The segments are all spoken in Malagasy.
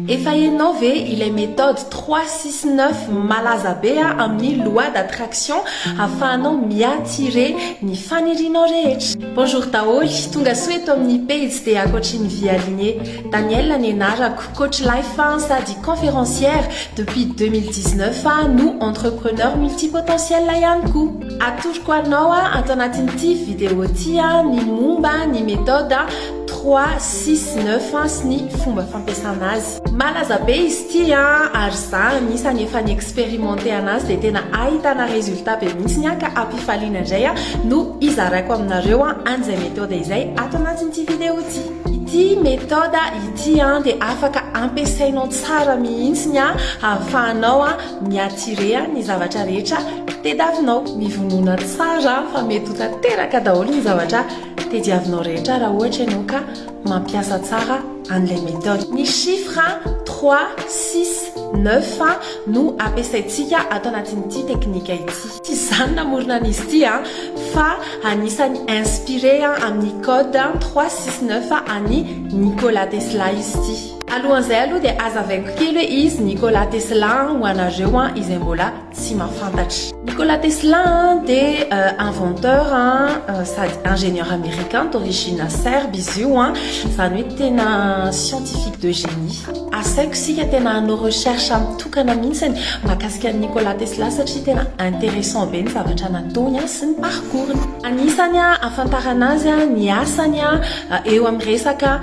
Efa enao ve ilay méthode trois six neuf malaza be a amin'ny loi d'attraction afahanao mi-attire ny fanirianao rehetra? Bonjour daholo, tonga soa eto amin'ny pejy dia akoatry ny Vy Aline. Danielle ny anarako, coach life aho sady conférencière, depuis deux mille dix neuf aho no entrepreneur multipotentiel ihany koa. Atoroko anao ato anatin'ity vidéo ity ny momba ny méthode Trois, six, neuf sy ny fomba fampiasana azy. Malaza be izy ity ary za anisany efa ni-experimenter anazy dia tena ahitana résultat be mihitsy ny ka hampifaliana indray no hizaraiko aminareo an'izay méthode izay ato anatin'ity vidéo ity. Ity méthode ity dia afaka ampiasainao tsara mihitsy ny ahafahanao mi-attirer ny zavatra rehetra tediavinao. Mivonona tsara fa mety ho tanteraka daholo ny zavatra. Tediavinao rehetra raha ohatra ianao ka mampiasa tsara an'ilay méthode. Ny chiffre trois, six, neuf no ampiasaintsika ato anatin'ity teknika ity. Tsy izaho no namorona an'izy ity an, fa anisan'ny inspiré amin'ny code trois, six, neuf an'i Nikola Tesla izy ity. Alohan'izay aloha dia hazavaiko kely hoe izy Nikola Tesla ho anareo izay mbola tsy mahafantatra. Nikola Tesla dia inventeur sady ingénieur américain d'origine serbe izy io an, izany hoe tena scientifique de génie. Asaiko isika tena hanao recherche mitokana mihitsy ny mahakasika an'i Nikola Tesla satria tena intéressant be ny zavatra nataony an sy ny parcours-ny. Anisany ahafantarana azy ny asany eo amin'ny resaka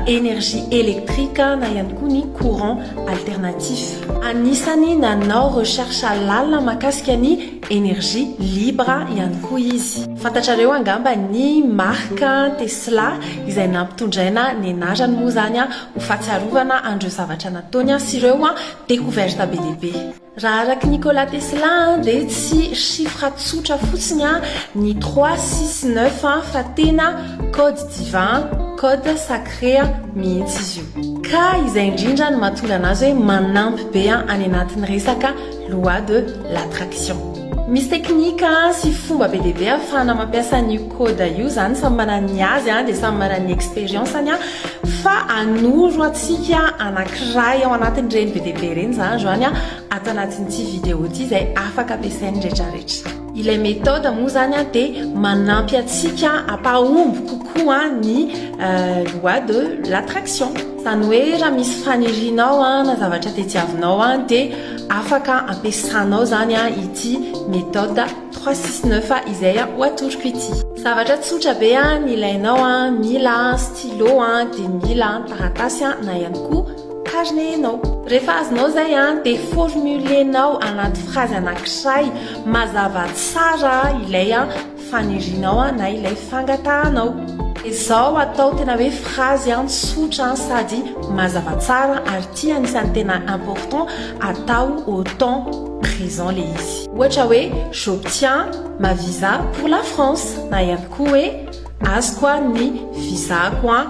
énergie électrique na ihany koa ny courant alternatif. Anisany nanao recherche lalina mahakasika ny énergie libre ihany koa izy. Fantatrareo angamba ny marque Tesla izay nampitondraina ny anarany moa izany ho fahatsiarovana an'ireo zavatra nataony sy ireo découverte be dia be. Raha araky Nikola Tesla dia tsy chiffre tsotra fotsiny ny trois, six, neuf fa tena code divin, code sacré mihitsy izy io. Ka izay indrindra no mahatonga anazy hoe manampy be any anatin'ny resaka loi de l'attraction. Misy teknika sy fomba be dia be ahafahana mampiasa an'io code io, izany samy manana ny azy dia samy manana ny expérience-ny fa hanoro antsika anankiray ao anatin'ireny be dia be ireny izany izany ato anatin'ity vidéo ity izay afaka ampiasain'ny rehetrarehetra. Ilay méthode moa izany dia manampy antsika hampahomby kokoa ny loi de l'attraction. Zany hoe raha misy fanirianao an na zavatra tediavinao an dia afaka ampiasanao zany an ity méthode 369 izay ho atoroko ity. Zavatra tsotra be an ny ilainao an mila stylo an dia mila taratasy an na ihany koa carnet enao. Rehefa azonao zay an dia formulenao anaty phrase anankiray mazava tsara ilay an Fanirianao an na ilay fangatahanao. Izao atao tena hoe phrase an tsotra an sady mazava tsara ary ity anisan'ny tena important atao au temps présent le izy. Ohatra hoe j'obtiens ma visa pour la France na ihany koa hoe azoko an ny visa-ko an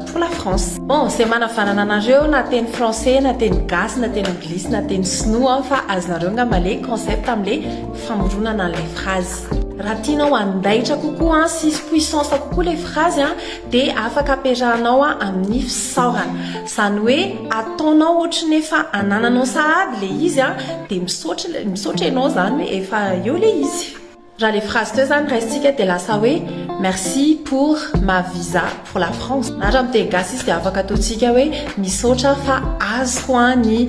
pour la France. Bon izay manavanana anareo na teny français na teny gasy na teny anglisy na teny sinoa an fa azonareo angamba le concept amin'le famoronana an'ilay phrase. Raha tianao handaitra kokoa sy hisy puissance kokoa ilay phrase dia afaka ampiarahanao amin'ny fisaorana. Izany hoe ataonao ohatry ny efa anananao sahady ilay izy dia misaotra misaotra ianao izany hoe efa eo ilay izy. Raha ilay phrase teo izany raisintsika dia lasa hoe merci pour ma visa pour la France. Na raha amin'ny teny gasy izy dia afaka ataontsika hoe misaotra fa azoko ny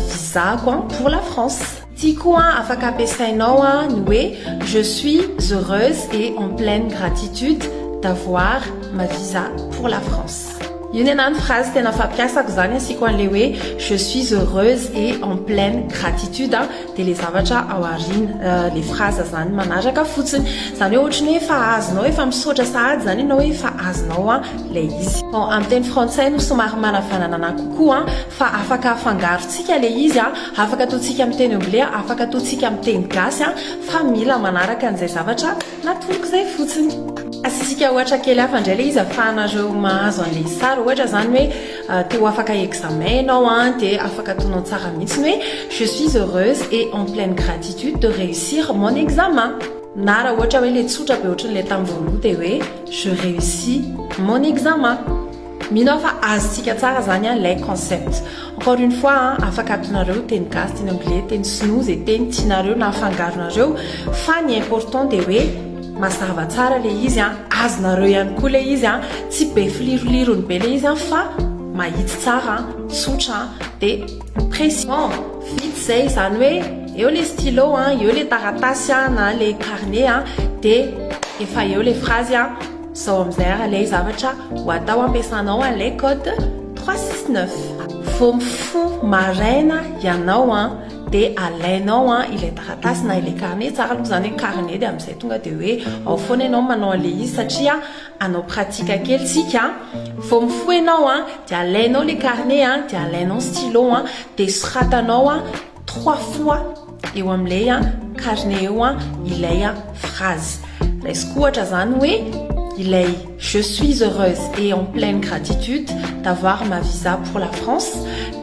visa-ko pour la France. Tiako an afaka ampiasainao an ny hoe je suis heureuse et en pleine gratitude d'avoir ma visa pour la France. Io ny anah ny phrase tena fampiasako zany asiako an'le hoe je suis heureuse et en pleine gratitude an dia le zavatra ao aoriana le phrase zany manaraka fotsiny. Zany hoe ohatry ny hoe efa azonao efa misaotra sahady zany ianao hoe efa azonao an ilay izy. Bon amin'ny teny frantsay no somary manavanana anah kokoa an fa afaka afangaro tsika le izy a, afaka atao tsika am teny anglais a, afaka atao tsika am teny gasy a, fa mila manaraka an'izay zavatra natoloko zay fotsiny. Asitsika ohatra kely hafa indray le izy afahanareo mahazo an'le sary ohatra zany hoe te ho afaka examen ianao a de afaka ataonao tsara mihitsy ny hoe je suis heureuse et en pleine gratitude de réussir mon examen na raha ohatra hoe le tsotra be ohatran'le tam voaloha de hoe je réussis mon examen Mino aho fa azontsika tsara zany an lay concept. Encore une fois an, afaka atonareo teny gasy, teny anglais, teny sinoa, ze teny tianareo na afangaronareo fa ny important dia hoe mazava tsara le izy an, azonareo ihany koa le izy an, tsy be filirolirony be le izy an fa mahitsy tsara an, tsotra an, dia précis. Bon, vita zay, izany hoe eo le stylo an, eo le taratasy an na le carnet an dia efa eo le phrase an. Zao amin'izay ary ilay zavatra ho atao ampiasanao an'ilay code 369. Vao mifoha maraina ianao an, dia alainao an ilay taratasy na ilay carnet, tsara aloha izany hoe carnet dia amin'izay tonga dia hoe ao foana ianao manao an'ilay izy satria hanao pratique kely isika. Vao mifoha ianao an, dia alainao ilay carnet an, dia alainao ny stylo an, dia soratanao an trois fois eo amin'ilay a carnet eo a ilay a phrase raisiko ohatra zany hoe ilay je suis heureuse et en pleine gratitude d'avoir ma visa pour la France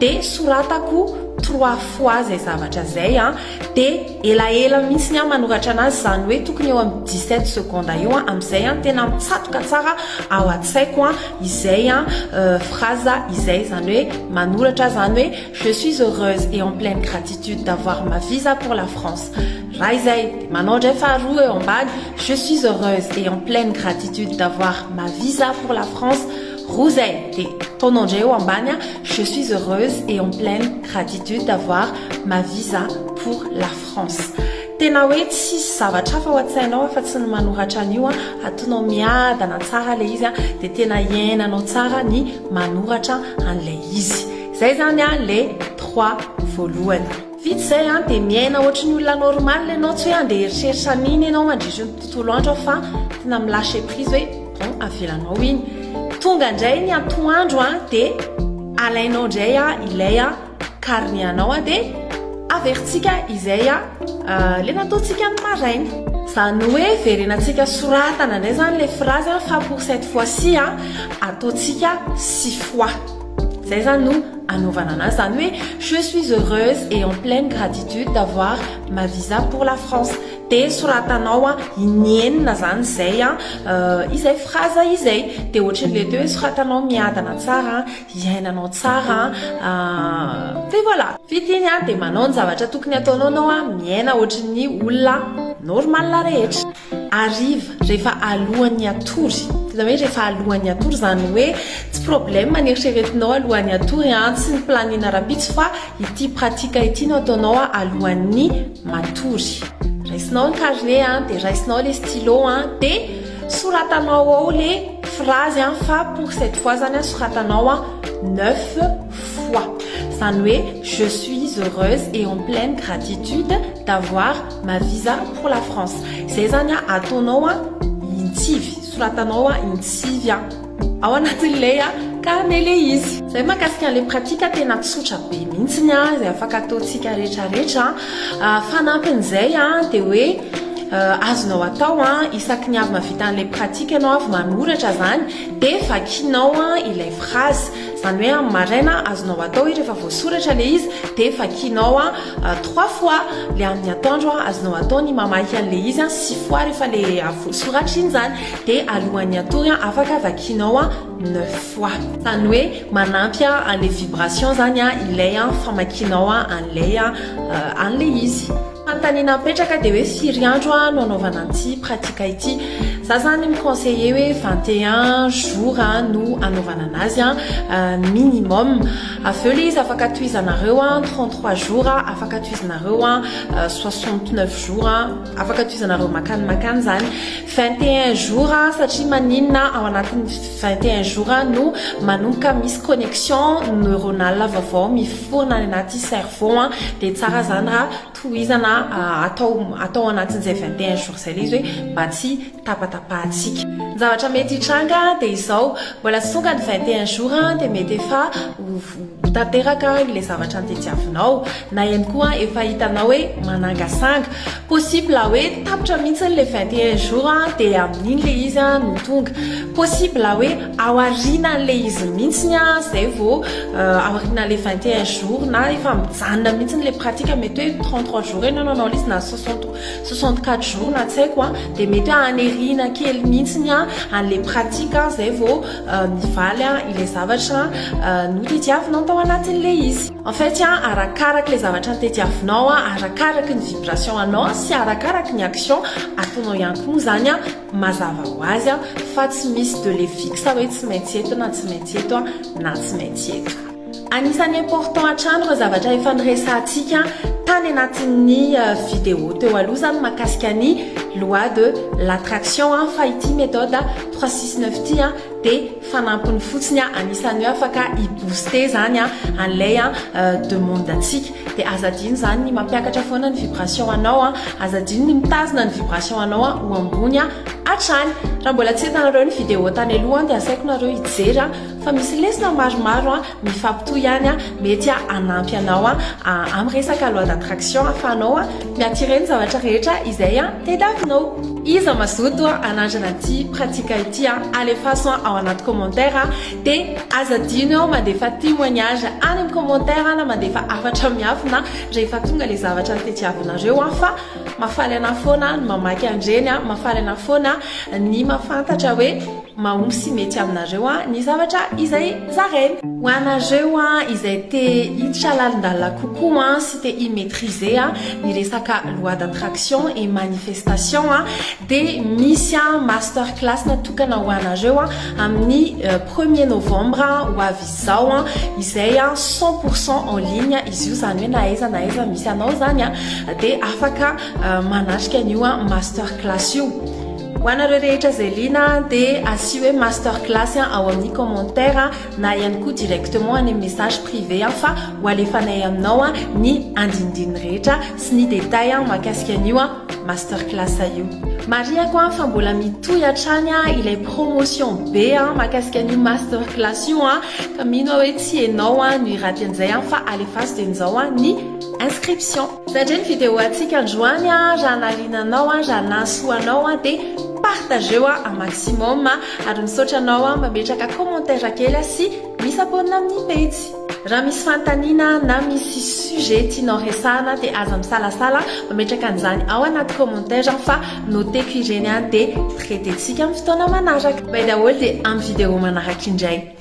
de soratako trois fois zay zavatra zay a de elaela mihitsy ny a manoratra anazy zany hoe tokony eo amin'ny 17 seconde eo a amin'izay a tena mitsatoka tsara ao an-tsaiko a izay a euh, phrase izay zany hoe manoratra zany hoe Je suis heureuse et en pleine gratitude d'avoir ma visa pour la France raha izay dia manao indray faharoa eo ambany je suis heureuse et en pleine gratitude d'avoir ma visa pour la France roa izay dia ataonao indray eo ambany a je suis heureuse et en pleine gratitude d'avoir ma visa pour la France tena hoe tsisy zavatra hafa ao an-tsainao afa tsy ny manoratra an'io a atonao miadana tsara ilay izy a dia tena iainanao tsara ny manoratra an'ilay izy Zay zany an le trois voalohany. Vita izay an dia miaina ohatry ny olona normal ianao tsy hoe andeha eritreritra an'iny ianao mandritry ny tontolo andro an fa tena mi lâcher prise hoe bon avelanao iny. Tonga indray ny antoandro an dia alainao indray an ilay an carnet anao an dia averintsika izay an le nataontsika ny maraina. Zany hoe verenantsika soratana indray zany le phrase an fa pour cette fois ci an ataontsika six fois. Zay zany no anaovana anazy zany hoe je suis heureuse et en pleine gratitude d'avoir ma visa pour la France de soratanao a inienina zany zay a euh, izay fraza izay de ohatrin'le teo hoe soratanao miadana tsara iainanao tsara euh, de voilà vita iny a de manao ny zavatra tokony ataonao nao a miaina ohatrin'ny olona normal rehetra Hariva, rehefa alohan'ny hatory. Tena hoe rehefa alohan'ny hatory, izany hoe tsy problème ny eritreretinao alohan'ny hatory an, tsy ny planning rahampitso fa ity pratique ity no ataonao alohan'ny matory. Raisinao ny carnet an, dia raisinao ilay stylo an, dia soratanao ao ilay phrase an, fa pour cette fois izany an, soratanao an, neuf fois. Izany hoe je suis heureuse et en pleine gratitude d'avoir Ma visa pour la France zay zany a ataonao a intsivy soratanao a intsivy a ao anatin'ilay a carnet ilay izy zay makasika an'ilay pratique tena tsotra be mihitsy ny a zay afaka ataontsika rehetra rehetra a fanampin'izay a dia hoe azonao atao a isaky ny avy mavita an'ilay pratique ianao avy manoratra zany dia vakinao a ilay phrase Izany hoe amin'ny maraina azonao atao hoe rehefa voasoratra ilay izy dia vakianao trois fois ilay amin'ny atoandro azonao atao ny mamaky an'ilay izy six fois rehefa ilay avy voasoratra iny izany dia alohan'ny hatory afaka vakianao neuf fois. Izany hoe manampy an'ilay vibration izany ilay famakianao an'ilay an'ilay izy. Fanontaniana mipetraka dia hoe firy andro a no anaovana an'ity pratique ity? Za zany mi-conseiller hoe 21 jours a no anaovana anazy a minimum. Avy eo le izy afaka tohizanareo a 33 jours a, afaka tohizanareo a 69 jours a, afaka tohizanareo makany makany zany. 21 jours a satria maninona ao anatin'ny 21 jours a no manomboka misy connection neuronale vaovao mif. fotoana any anaty cerveau a dia tsara zany raha tohizana atao atao anatin'izay 21 jours izay ilay izy hoe mba tsy tapatapahantsika ny zavatra mety hitranga dia izao mbola tsy tonga ny 21 jours dia mety efa ho tanteraka ilay zavatra antediavinao na ihany koa efa hitanao hoe manangasanga Possible hoe tapitra mihitsy ilay vingt et un jours an, dia amin'iny ilay izy an no tonga. Possible hoe ao aorianan'ilay izy mihitsy an, izay vao ao aorianan'ilay vingt et un jours na efa mijanona mihitsy ilay pratique mety hoe trente trois jours eo ianao nanao ilay izy na soixante soixante quatre jours na tsy haiko an, dia mety hoe haniriana kely mihitsy an an'ilay pratique an izay vao mivaly an ilay zavatra notadiavinao tao anatin'ilay izy. En fait a, arakaraka le zavatra nitediavinao a, arakaraka ny vibration anao sy arakaraka ny action ataonao ihany koa moa zany a, mazava ho azy a, fa tsy misy de le fixe hoe tsy maintsy eto na tsy maintsy eto a, na tsy maintsy eto. Anisan'ny important hatrany ireo zavatra efa niresahantsika tany anatin'ny vidéo teo aloha zany mahakasika ny loi de l'attraction a, fa ity méthode trois six neuf ity a dia fanampiny fotsiny a anisany hoe afaka i booster zany a an'ilay a demande antsika dia aza adino zany ny mampiakatra foana ny vibration anao a aza adino ny mitazona ny vibration anao a ho ambony a hatrany raha mbola tsy hitanareo ny vidéo tany aloha dia asaiko nareo hijery a fa misy lesona maromaro a Mifampitohy ihany an, mety hanampy anao amin'ny resaka loi d'attraction ahafahanao mi-attirer ny zavatra rehetra izay tadiavinao. Iza mazoto hanandrana ity pratique ity an, alefaso ao anaty commentaire dia aza adino eo mandefa témoignage any amin'ny commentaire na mandefa hafatra miafina rehefa tonga ilay zavatra tadiavinareo fa mahafaly anah foana ny mamaky an'ireny an, mahafaly anah foana ny mahafantatra hoe. Mahomby sy mety aminareo ny zavatra izay zaraina. Ho anareo izay te hiditra lalindalina kokoa sy te hi-maitriser ny resaka loi d'attraction et manifestation dia misy master class natokana ho anareo amin'ny premier novembre ho avy izao izay cent pour cent en ligne izy io izany hoe na aiza na aiza misy anao izany dia afaka manatrika an'io master class io. Ho anareo rehetra izay liana dia asio hoe master class ao amin'ny commentaire na ihany koa directement any amin'ny message privé fa ho alefanay aminao ny andinindininy rehetra sy ny détails mahakasika an'io master class io. Marihako fa mbola mitohy hatrany ilay promotion be mahakasika an'io master class io ka mino aho hoe tsy ianao no hiraty an'izay fa alefaso dieny izao ny inscription. Zatra ny vidéo antsika androany a, raha nahaliana anao a, raha nahasoa anao a, dia partageo a un maximum a, ary misaotra anao a mametraka commentaire kely sy mi-s'abonne amin'ny pejy. Raha misy fanontaniana na misy sujet tianao resahana dia aza misalasala mametraka an'izany ao anaty commentaire fa noteko ireny a, dia traiter-tsika amin'ny fotoana manaraka. Bay daholo dia amin'ny vidéo manaraka indray.